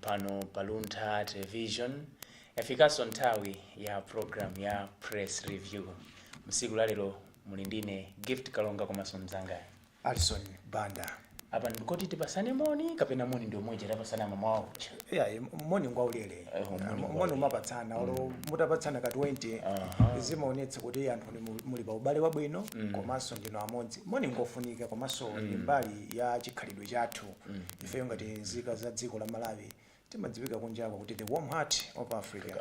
Pano pa Luntha Television yafikaso nthawi ya program ya Press Review. Msiku la lero muli ndine Gift Kalonga komaso mzanga. Alison Banda. Apa ndikoti tipasane moni kapena moni ndi omwe uja tapasana mamawa uja. Yeah, moni ngwa ulele. Eh, moni ngwa Moni ulele. umapatsana olo mutapatsana ka 20 Aha. zimaonetsa kuti anthu ni mu- muli pa ubale wabwino komanso ndinu amodzi. Moni ngofunika komanso ndi mbali ya chikhalidwe chathu. ifeyo ngati nzika za dziko la Malawi timadziwika kunjako kuti the warm heart of Africa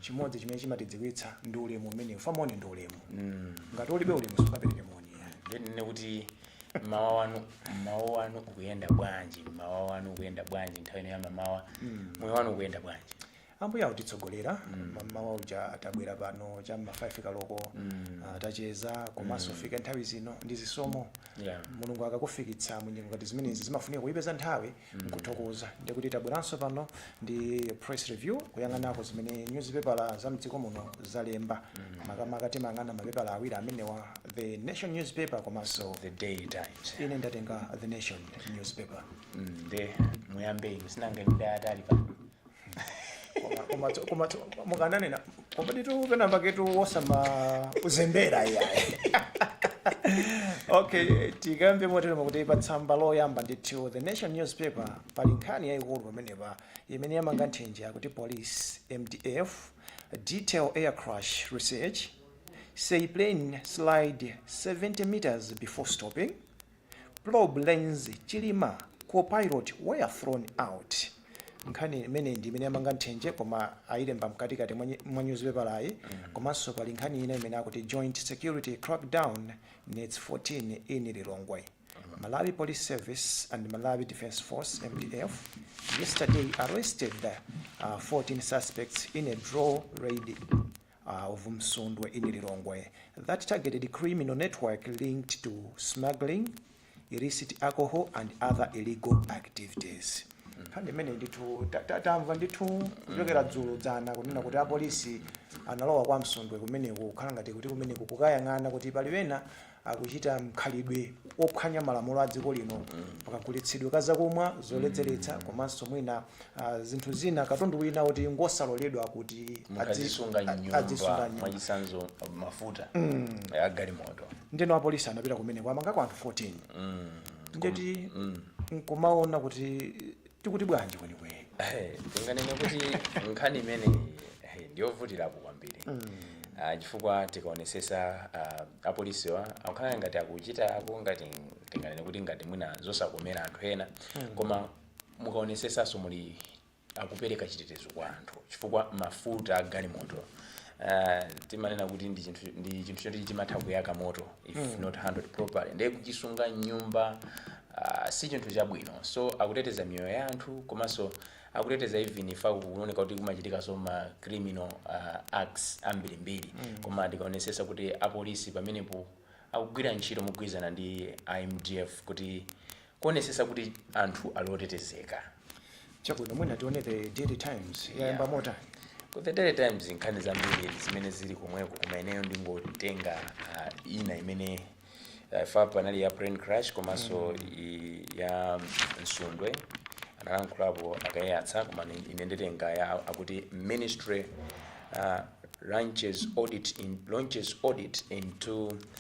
chimodzi chimene chimatidziwitsa ndi ulemu umenewu. Moni ndi ulemu ngati ulibe ulemu sungapereke moni ndinene kuti mmawa wanu mmawa wanu ukuyenda bwanji mmawa wanu ukuyenda bwanji nthawi ino ya mamawa moyo wanu ukuyenda bwanji Ambuye akutitsogolera mm. mmawa uja tabwera pano cha mma 5 kaloko mm. uh, tacheza komanso mm. fika nthawi zino ndi zisomo yeah. Mulungu akakufikitsa mu nyengo ngati zimenezi zimafunika kuipeza nthawi mm. nkuthokoza ndi kuti tabweranso pano ndi press review kuyang'anako zimene newspaper za mdziko muno zalemba mm. makamaka timayang'ana mapepala awiri amenewa the nation newspaper komanso the Daily Times ine ndatenga the nation newspaper mm, nde mm, muyambe inu sinanga ndi Daily Times pano Koma- koma tso- koma tso- mukananena koma ndithu penamba ketu wosama kuzembera iyayi okay tikambe motero nkuti pa tsamba loyamba ndithu the nation newspaper pali nkhani yayikulu pamenepa imene yamanga nthenje akuti police mdf detail air crash response say plane slid 70 meters before stopping Probe learns chilima copilot were thrown out nkhani imeneyi ndi imene yamanga nthenje koma ayilemba mkatikati mwa nyi- mwa nyuzipepalayi komanso pali nkhani ina imene akuti joint security crackdown nets 14 in lilongwe malawi police service and malawi defence force mdf yesterday arrested uh, 14 suspects in a dawn raid Ah of Msundwe in Lilongwe that targeted criminal network linked to smuggling illicit alcohol and other illegal activities nkhani imeneyi ndithu ta- ta- tamva ndithu kuchokera dzulo dzana kunena kuti apolisi analowa kwa msundwe kumeneko kukhala ngati kuti kumeneko kukayang'ana kuti pali ena akuchita mkhalidwe ophwanya malamulo a dziko lino pakagulitsidwe ka zakumwa zoledzeretsa komanso mwina ah, zinthu zina katundu wina kuti ngosaloledwa kuti adzi- mukazisunga a- nyumba adzisunga nyumba mwachisanzo mafuta ya galimoto ndeno apolisi anapita kumeneko kwamangako anthu 14 ndeti nkumaona kuti tikuti bwanji kwenikweni Eh, tinganene kuti nkhani imeneyi eh, ndiyovutirapo kwambiri Ah, chifukwa tikaonesesa ah, apolisiwa akukhala ngati akuchitako ngati tinganene kuti ngati mwina zosakomera anthu ena koma mukaonesesanso mulija akupereka chitetezo kwa anthu chifukwa mafuta a galimoto Ah, timanena kuti ndi chinthu ndi chinthu choti chimatha kuyaka moto if Mm. not handled properly ndiye kuchisunga mnyumba ah, si chinthu chabwino so akuteteza miyoyo ya anthu komanso akuteteza even if kuoneka kuti kumachitikanso ma criminal ah, acts ambirimbiri Mm. koma tikaonesesa kuti apolisi pamenepo akugwira ntchito mogwirizana ndi MDF kuti kuonesesa kuti anthu ali otetezeka. Chabwino mwina tione the daily times yayamba motani. Ku the daily times nkhani zambiri zimene zili komweko koma ineyo ndingotenga uh, ina imene uh, apapa anali ya plane crash komanso i- ya Msundwe analankhulapo a Kaiyatsa koma ni- ine nditenga ya akuti ministry uh, launches audit in, launches audit into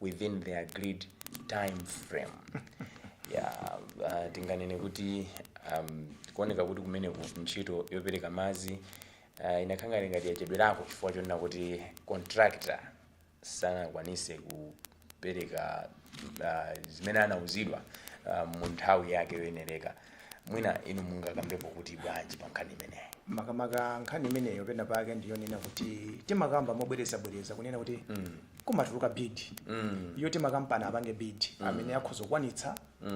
within the agreed time frame ya uh, tinganene kuti um, kuoneka kuti kumeneku ntchito yopereka madzi uh, inakhala ngati yachedwerako chifukwa chonena kuti contractor sanakwanise kupereka uh, zimene anauzidwa uh, mu nthawi yake yoyenereka mwina inu mungakambepo kuti bwanji pa nkhani imeneyi makamaka nkhani imeneyo pena pake ndiyonena kuti timakamba mobwerezabwereza kunena kuti kumatuluka bid yoti makampani apange bid amene akhoza kukwanitsa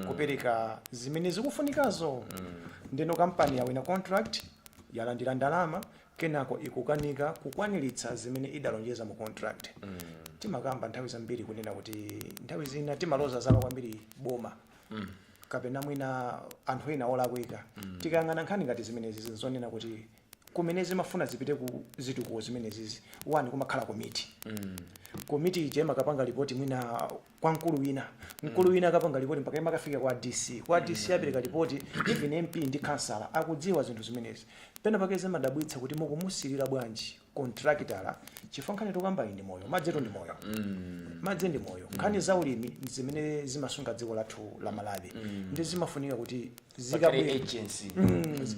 kupereka zimene zikufunikazo ndeno kampani yawina contract yalandira ndalama kenako ikukanika kukwaniritsa zimene idalonjeza mu contract timakamba nthawi zambiri kunena kuti nthawi zina timaloza zala kwambiri boma kapena mwina anthu ena olakwika mm. tikayang'ana nkhani ngati zimenezi ndi zonena kuti kumene zimafuna zipite ku zitukuko zimenezizi wani kumakhala komiti mm. komiti ija imakapanga lipoti mwina kwa mkulu wina mkulu mm. wina akapanga lipoti mpaka imakafika kwa dc kwa dc mm. apereka lipoti even mp ndi kansala akudziwa zinthu zimenezi pena pake zimadabwitsa kuti mukumusiyira bwanji kontrakitala chifukwa nkhani tikukambayi ndi moyo madzitu ndi moyo mm. madzi ndi moyo mm. nkhani za ulimi ndi zimene zimasunga dziko lathu la malawi mm. nde zimafunika kuti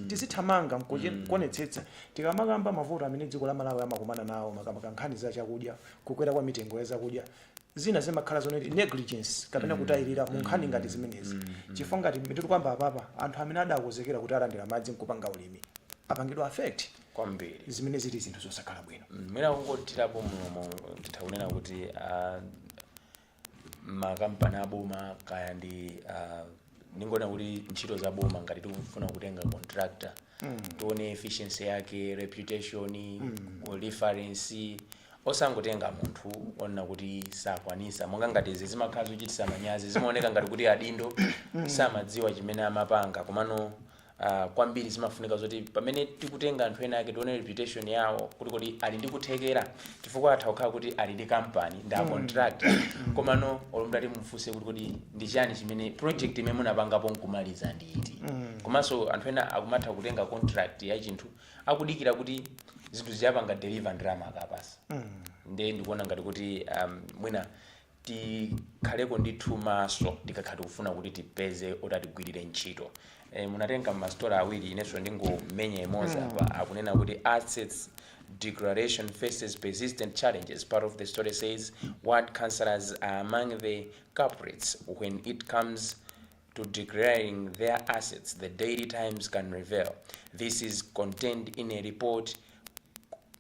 tizithamanga nkuonetsetsa tikamakamba mavuto amene dziko la malawi limakumana nawo makamaka nkhani za chakudya kukwera kwa mitengo ya zakudya zina zimakhala zonena kuti negligence kapena mm. kutayirira mu nkhani mm. ngati zimenezi mm. chifukwa ngati mmene tikukamba apapa anthu amene adakonzekera kuti alandira madzi nkupanga ulimi apangidwa affect kwambiri zimene zili zinthu zosakhala bwino Mm, mwina kungothirapo mlomo titha kunena kuti ah, makampani aboma kaya ndi ah, ndingonena kuti ntchito za boma ngati tikufuna kutenga contractor tione efficiency yake reputation reference osangotenga munthu onena kuti sakwanisa monga ngati izi zimakhala zochitisa manyazi zimaoneka ngati kuti adindo samadziwa chimene amapanga komano uh, kwambiri zimafunika zoti pamene tikutenga anthu ena ake tione reputation yawo kuti kodi ali ndi kuthekera chifukwa atha kukhala kuti ali ndi kampani ndi a contractor komano olo mutati mufunse kuti kodi ndi chani chimene project imene munapangapo nkumaliza ndi iti komanso anthu ena akumatha kutenga contract ya chinthu akudikira kuti zinthu sizinapange deliver ndalama akawapasa nde ndikuona ngati kuti um, mwina tikhaleko ndithu maso tikakhala tikufuna kuti tipeze oti atigwirire ntchito e, munatenga ma story awiri inenso ndingomenya imodzi mm. apa akunena kuti assets declaration faces persistent challenges part of the story says ward councillors are among the culprits when it comes to declaring their assets the daily times can reveal this is contained in a report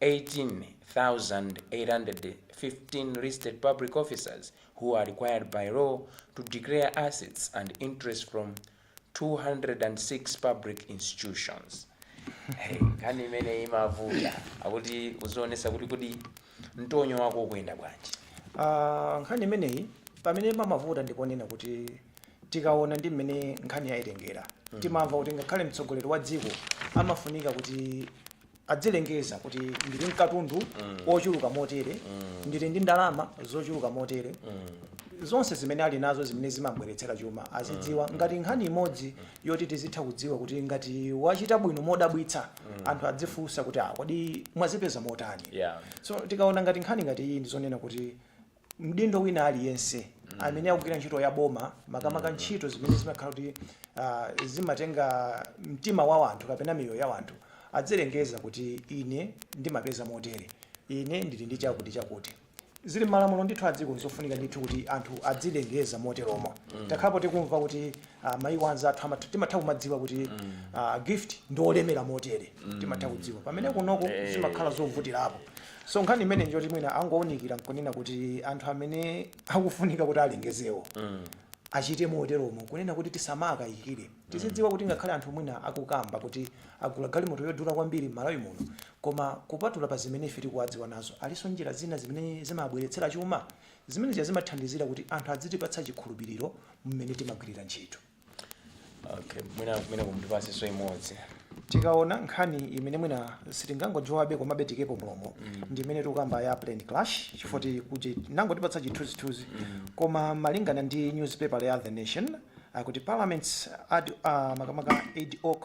18,815 listed public officers who are required by law to declare assets and interests from 206 public institutions. Hey, nkhani imeneyi imavuta akuti uzionesa kuti kodi Mtonyo wako ukuyenda bwanji? Ah, nkhani imeneyi pamene imavuta ndiponena kuti tikaona ndi mmene nkhani yayitengera mm. timamva kuti ngakhale mtsogoleri wa dziko amafunika kuti adzilengeza kuti ndili nkatundu mm. ochuluka motere mm. ndili ndi ndalama zochuluka motere mm zonse zimene ali nazo zimene zimawabweretsera chuma azidziwa mm. ngati nkhani imodzi yoti tizitha kudziwa kuti ngati wachita bwino modabwitsa mm. anthu adzifunsa kuti ah, kodi mwazipeza motani yeah. so tikaona ngati nkhani ngati iyi ndizonena kuti mdindo wina aliyense mm. amene akugwira ntchito ya boma makamaka mm. ntchito zimene zimakhala kuti uh, zimatenga mtima wa wanthu kapena miyoyo ya wanthu adzilengeza kuti ine ndimapeza motere ine ndili ndi chakuti chakuti zili mmalamulo ndithu a dziko nzofunika ndithu kuti anthu adzilengeza moteromo takhalapo tikumva kuti ah, maiko anzathu amatha- timatha kumadziwa kuti ah, gift ndi olemera motere timatha kudziwa pamene kunoko zimakhala zovutirapo so nkhani imene njoti mwina angounikira nkunena kuti anthu amene akufunika kuti alengezewo achite moteromo kunena kuti tisamakayikire tizidziwa kuti ngakhale anthu mwina akukamba kuti agula galimoto yodula kwambiri m'Malawi muno Koma kupatula pa zimene ife tikuwadziwa nazo, alinso njira zina zimene zimawabweretsera chuma? Zimene zija zimathandizira kuti anthu adzitipatsa chikhulupiriro mmene timagwirira ntchito. Okay, mwina kumeneko mutipatsenso imodzi. Tikaona nkhani imene mwina sitingangojowhabe komabe tiikepo mlomo ndi imene tikukamba ya plane crash chifukwa ti- kuti nangotipatsa chithunzithunzi koma malingana ndi newspaper ya The Nation akuti parliament's ad, uh, makamaka ad hoc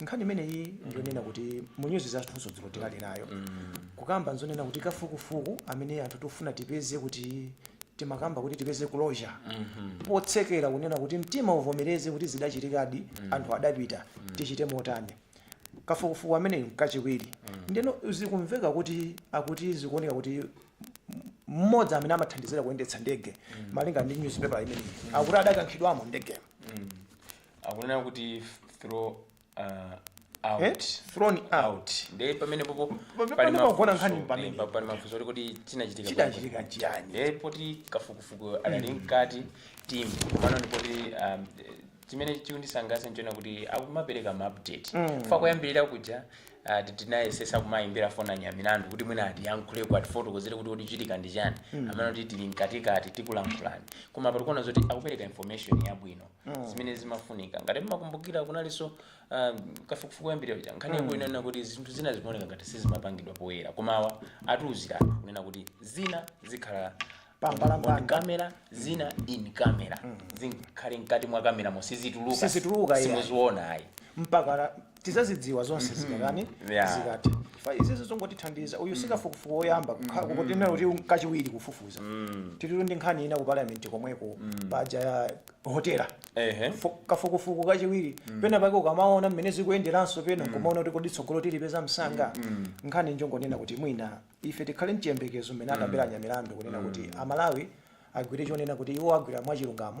nkhani imeneyi ndi zonena kuti mu news zathunso dziko tikali nayo kukamba nzonena kuti kafukufuku amene anthu tifuna tipeze kuti timakamba kuti tipeze closure potsekera kunena kuti mtima uvomereze kuti zidachitikadi anthu adapita tichite motani kafukufuku ameneyu kachiwiri ndeno zikumveka kuti akuti zikuoneka kuti mmodzi amene ankathandizira kuyendetsa ndege malinga ndi newspaper imeneyi akuti adakankhidwamo ndegemo akunena kuti throw uh, Eh? out thrown out out nde pamene popo Pa- pa- pamene pagona nkhani ndi pamene. pali mafunso oti kuti chinachitika chidachitika chiyani nde poti kafukufuku adali mkati timvabe koma ndipoti um, eh, chimene chikundisangalatsa nchonena kuti akumapereka maupdate Mm. fa kuyambirira kuja ah, ti- tinayesetsa kumayimbira foni a Nyamilandu kuti mwina atiyankhuleko atifotokozere kuti chikuchitika ndi chani amanena kuti tili mkatikati tikulankhulani koma pa tikuona zoti akupereka information yabwino zimene zimafunika ngati mmakumbukira kunalinso ah, kafukufuku woyambirira uja nkhani yake inanena kuti zinthu zina zimaoneka ngati sizimapangidwa poyera koma awa atiuziratu kunena kuti zina zikhala Pambalambanda. on camera zina in camera zikhale mkati mwa kameramo sizituluka Sizituluka, yeah. simuziona ayi mpaka tidzazidziwa zonse mhm. zikatani yeah. zikati chifukwa izizo zongotithandiza uyu sikafukufuku woyamba mhm. tikunena kuti kachiwiri kufufuza mm. tilitu ndi nkhani ina ku parliament komweko mm. paja ya hotela kafukufuku kachiwiri mm. pena pake ukamaona mmene zikuyenderanso pena mm. kumaona kuti kodi tsogolo tilipeza msanga mm. mm. nkhani njongonena kuti mwina ife tikhale mchiyembekezo mmene mm. akambira Nyamilandu kunena mm. kuti amalawi agwire chonena kuti iwo agwira mwachilungamo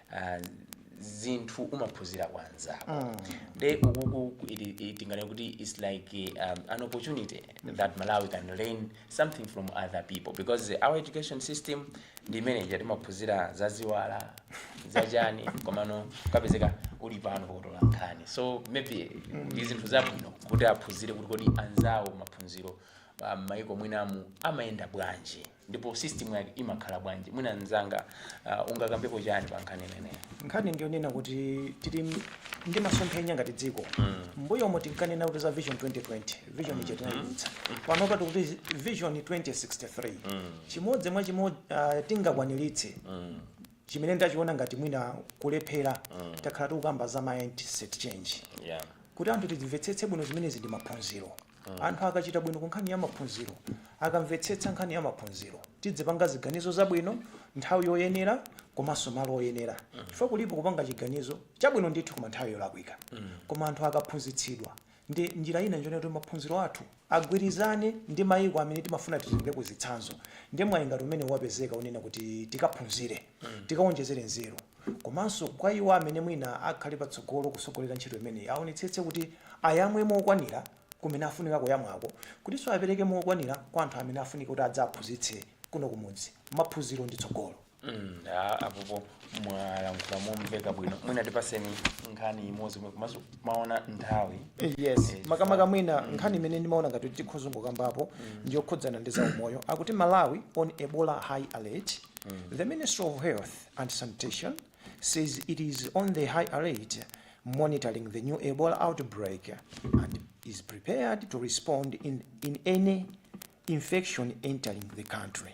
Ah, zinthu umaphunzira kwa anzako mm. nde ukuku tinganene kuti its like um, an opportunity mm. that malawi can learn something from other people because our education system ndi imene ija timaphunzira za ziwala za chani komano ukapezeka uli pano potola nkhani so maybe mm. ndi zinthu zabwino kuti aphunzire kuti kodi anzawo maphunziro um, maiko mwinamu amayenda bwanji ndipo system yake imakhala bwanji mwina mzanga uh, ungakambepo chani pa nkhani imeneyi nkhani ndiyonena kuti tili m- ndi masomphenya ngati dziko mbuyomo tinkanena kuti za vision 2020 vision ija tinayidutsa panopa tikuti vision 2063 chimodzi mwa chimene uh, tingakwaniritse chimene ndachiona ngati mwina kulephera takhala tikukamba za mindset change yeah kuti anthu timvetsetse bwino zimenezi ndi maphunziro Anthu akachita bwino ku nkhani ya maphunziro, akamvetsetsa nkhani ya maphunziro, tidzipanga ziganizo zabwino nthawi yoyenera komanso malo oyenera chifukwa kulipo kupanga chiganizo chabwino ndithu koma nthawi yolakwika. Koma anthu akaphunzitsidwa ndi njira ina njonena kuti maphunziro athu agwirizane ndi mayiko amene timafuna titengereko zitsanzo ndiye mwayi ngati umenewu wapezeka wonena kuti tikaphunzire, tikawonjezere nzeru. Komanso kwa iwo amene mwina akhale patsogolo kusogolera ntchito imeneyi awonetsetse kuti ayamwe mokwanira kumene afunika kuyamwako kutinso apereke mokwanira kwa anthu amene afunika kuti adzaphunzitse kuno kumudzi. Maphunziro ndi tsogolo. mm apapa mwalankhula momveka bwino mwina tipaseni nkhani imodzi mwe- komanso maona nthawi Eh, yes Eh, makamaka fa- mwina mm, nkhani imene ndimaona ngati tikhoza kukambapo mm, ndiyokhudzana ndi zaumoyo akuti malawi on ebola high alert mm. the ministry of health and Sanitation says it is on the high alert monitoring the new Ebola outbreak and is prepared to respond in, in any infection entering the country.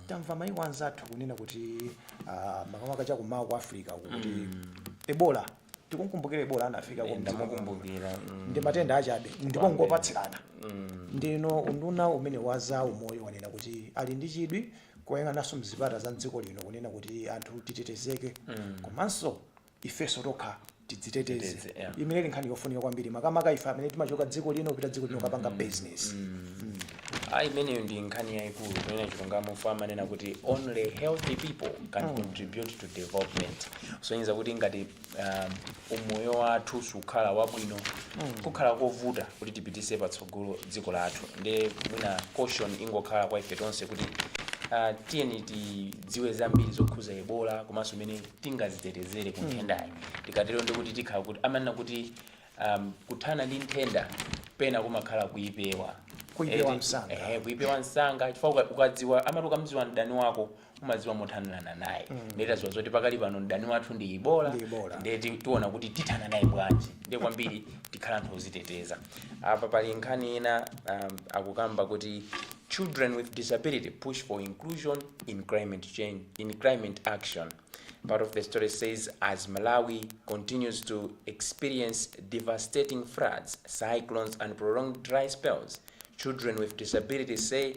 tamva maiko anzathu kunena kuti ah, makamaka chakumawa ku africa uku kuti ebola tikukumbukira ebola anafika ku mdziko muno. ndamkumbukira mm. ndi matenda achabe ndipo ngopatsirana ndiyeno unduna umenewu wa zaumoyo wanena kuti ali ndi chidwi koyang'ananso mzipata za mdziko lino kunena kuti anthu titetezeke komanso ifenso tokha tidziteteze Titeteze, yeah. imeneyi nkhani yofunika kwambiri makamaka ife amene timachoka dziko lino kupita dziko lino kapanga business Ah, imeneyo ndi nkhani yayikulu kunena chilungamo chifukwa amanena kuti only healthy people can contribute to development kusonyeza kuti ngati um, umoyo wathu sukhala wabwino kukhala kovuta kuti tipitise patsogolo dziko lathu nde mwina caution ingokhala kwa ife tonse kuti uh, tiyeni tidziwe zambiri zokhuza ebola komanso mene tingazitetezere ku nthendayi tikatero ndi kuti tikhala kuti amanena kuti um, kuthana ndi nthenda pena kumakhala kuipewa Kuipewa Eh, msanga. eh, kuipewa msanga chifukwa uka- ukadziwa amati ukamdziwa mdani wako umaziwa mothanirana naye mm. nde taziwa zoti pakali pano mdani wathu ndi ebola nde tiona kuti tithana naye bwanji nde kwambiri tikhala anthu oziteteza apa pali nkhani ina um, akukamba kuti children with disability push for inclusion in climate change in climate action part of the story says as malawi continues to experience devastating floods cyclones and prolonged dry spells children with disabilities say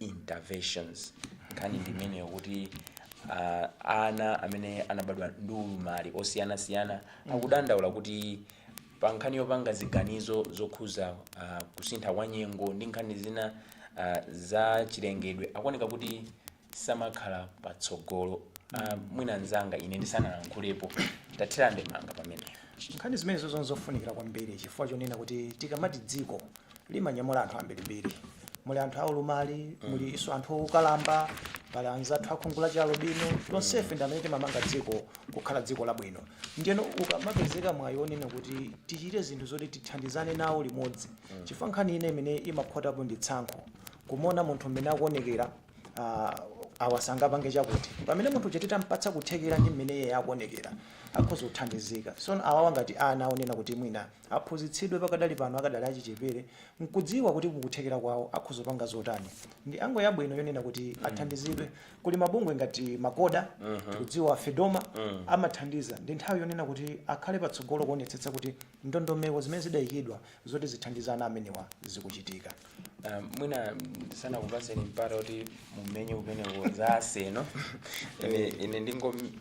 interventions. Nkhani ndi imeneyo kuti uh, ana amene anabadwa ndi ulumali osiyanasiyana akudandaula kuti pa nkhani yopanga ziganizo zokhuza uh, kusintha kwa nyengo ndi nkhani zina uh, za chilengedwe akuoneka kuti samakhala patsogolo uh, mwina nzanga ine ndisanalankhulepo tathira ndemanga pamenepo nkhani zimenezo nzofunikira kwambiri chifukwa chonena kuti tikamati dziko limanyamula anthu ambirimbiri muli anthu aulumali mulinso anthu okalamba pali anzathu a khungu la chialubino tonsefe ndi amene timamanga dziko kukhala dziko labwino ndiyeno ukamapezeka mwayi onena kuti tichite zinthu zoti tithandizane nawo limodzi chifukwa nkhani inanso imene imakhotapo ndi tsankho kumuona munthu mmene akuonekera ah, awa sangapange chakuti pamene munthu uja titampatsa kuthekera ndi mmene iye akuonekera akhoza kuthandizika so awawa ngati ana onena kuti mwina aphunzitsidwe pakadali pano akadali achichepere n'kudziwa kuti mukuthekera kwawo akhoza kupanga zotani ndi angle yabwino yonena kuti athandizidwe kuli mabungwe ngati MACOHA tikudziwa fedoma amathandiza ndi nthawi yonena kuti akhale patsogolo kuonetsetsa kuti ndondomeko zimene zidayikidwa zoti zithandize ana amenewa zikuchitika Ah, mwina ndisanakupatseni mpata kuti mumenye kumeneko za Arsenal ine, ine ndingo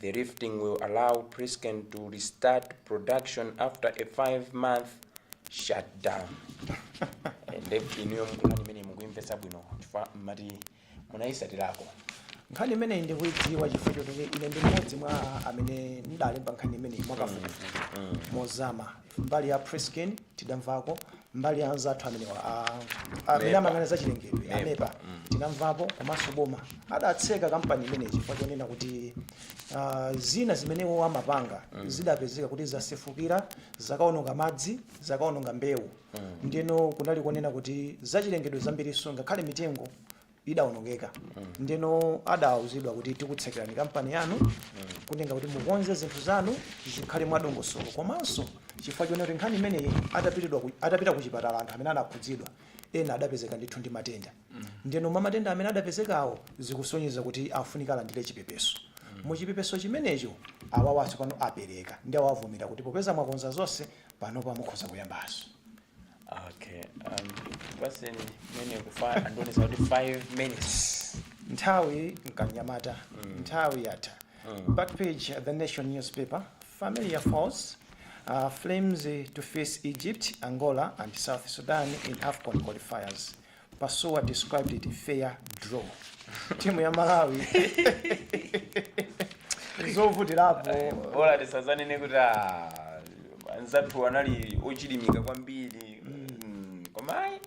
The lifting will allow PressCane to restart production after a five month shutdown. Ndiye inuyo nkhani imeneyi mukuimvetsa bwino chifukwa mmati munayitsatirako nkhani imeneyi ndikuidziwa chifukwa choti ine ndi mmodzi mwa amene ndidalemba nkhani imeneyi mwakafukufuku mozama mbali ya PressCane tidamvako mbali ya anzathu amenewa a- a- amene amayang'ana za chilengedwe a MEPA tinamvapo komanso boma adatseka kampani imeneyi chifukwa chonena kuti ah, zina zimene iwo amapanga zidapezeka kuti zasefukira zakaononga madzi zakaononga mbewu ndiyeno kunali kunena kuti zachilengedwe zambirinso ngakhale mitengo idaonongeka ndeno adauzidwa kuti tikutsekerani kampani yanu kunena kuti mukonze zinthu zanu zikhale mwadongosolo komanso chifukwa chonena kuti nkhani imeneyi atapita ku chipatala anthu amene anakhudzidwa ena adapezeka ndithu ndi matenda ndeno mwa matenda amene adapezekawo zikusonyeza kuti afunika alandire chipepeso muchipepeso chimenecho awawanso pano apereka ndiye awavomera kuti popeza mwakonza zonse panopa mukhoza kuyambanso okay um, paseni mene kufa andionesa kuti 5 minutes nthawi mkanyamata nthawi yatha back page the nation newspaper familiar foes uh, flames eh, to face egypt angola and south sudan in afcon qualifiers Pasuwa described it fair draw timu ya malawi zovutirapo bola tisadzanene kuti ah, anzathu anali ochilimika kwambiri Mm, koma ayi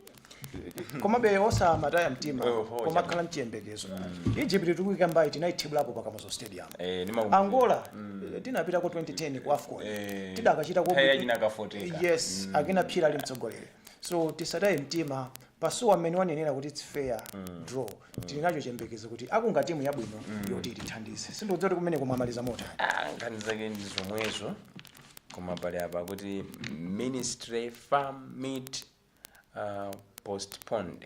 komabe osamataya mtima Oh, oh, koma kukhala mchiyembekezo egypt tikuika pambali tinayithibulapo pa Kamuzu stadium Eh, ndimakumbuka. angola eh, tinapitako 2010 ku afcon Eh, tidakachita nthawi yachina ka Foteka. yes akina Phiri ali mtsogoleri so tisataye mtima pasuwa mmene wanenera kuti its fair draw tili nacho chiyembekezo kuti akunga timu yabwino yoti itithandize sindikudziwa kuti kumeneko mukumaliza motani Ah, nkhani zake ndi zomwezo koma pali apa kuti ministry FAM meet uh, postponed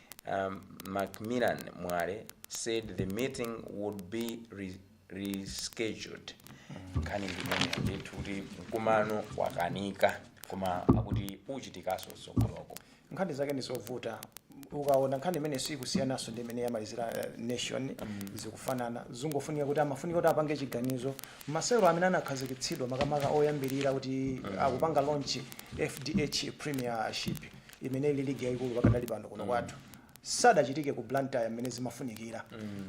Macmillan Mwale said the meeting would be rescheduled. Nkhani ndi imeneyo ndithu kuti mkumano wakanika koma akuti uchitikanso mtsogoloko. nkhani zake ndi zovuta ukaona nkhani imene sikusiyanaso ndi imene yamalizira eh, nation zikufanana zingofunika kuti amafunika kuti apange chiganizo masewero amene anakhazikitsidwa makamaka oyambirira kuti akupanga launch fdh premiership imene ili ligi yayikulu pakadali pano kuno kwathu sadachitike ku blantyre mmene zimafunikira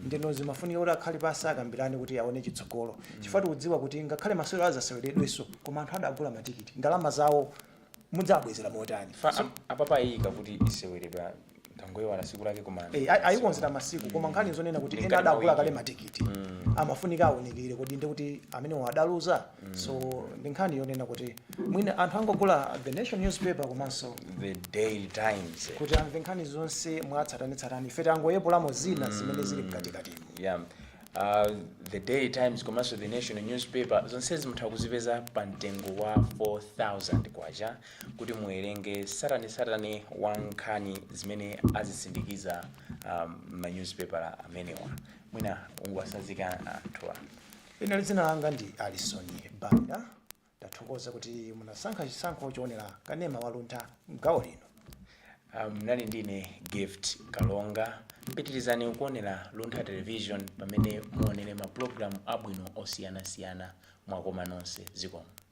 ndeno zimafunika kuti akhale pansi akambirane kuti aone chitsogolo chifukwa tikudziwa kuti ngakhale masewero azaseweredwenso koma anthu adagula matikiti ndalama zawo mudzabwezera motani Fa- am- apapa ayika kuti iseweredwa tangoyiwala tsiku lake koma Eh, ayi- ayikonzera masiku koma nkhani zonena kuti ena Mkati mwa adagula wiki. kale matikiti amafunika aonekere kodi ndi kuti amenewo adaluza so ndi nkhani yonena kuti mwina anthu angogula the nation newspaper komanso the daily times kuti amve nkhani zonse mwatsatanetsatane ife tangoyepulamo zina zimene zili mkatikatimo yeah. uh, the daily times komanso the nation newspaper zonsezi mutha kuzipeza pa mtengo wa 4000 kwacha kuti muwerenge tsatanetsatane wa nkhani zimene azisindikiza um, ma newspaper amenewa mwina ungwasazika anthuwa Ine dzina langa ndi Alison Banda. Ndathokoza kuti munasankha chisankho choonera kanema wa luntha m'gawo lino. Munali ndi ine Gift Kalonga. Pitirizani kuonera Luntha Television pamene muonere ma program abwino osiyanasiyana. Mwakoma nonse. Zikomo.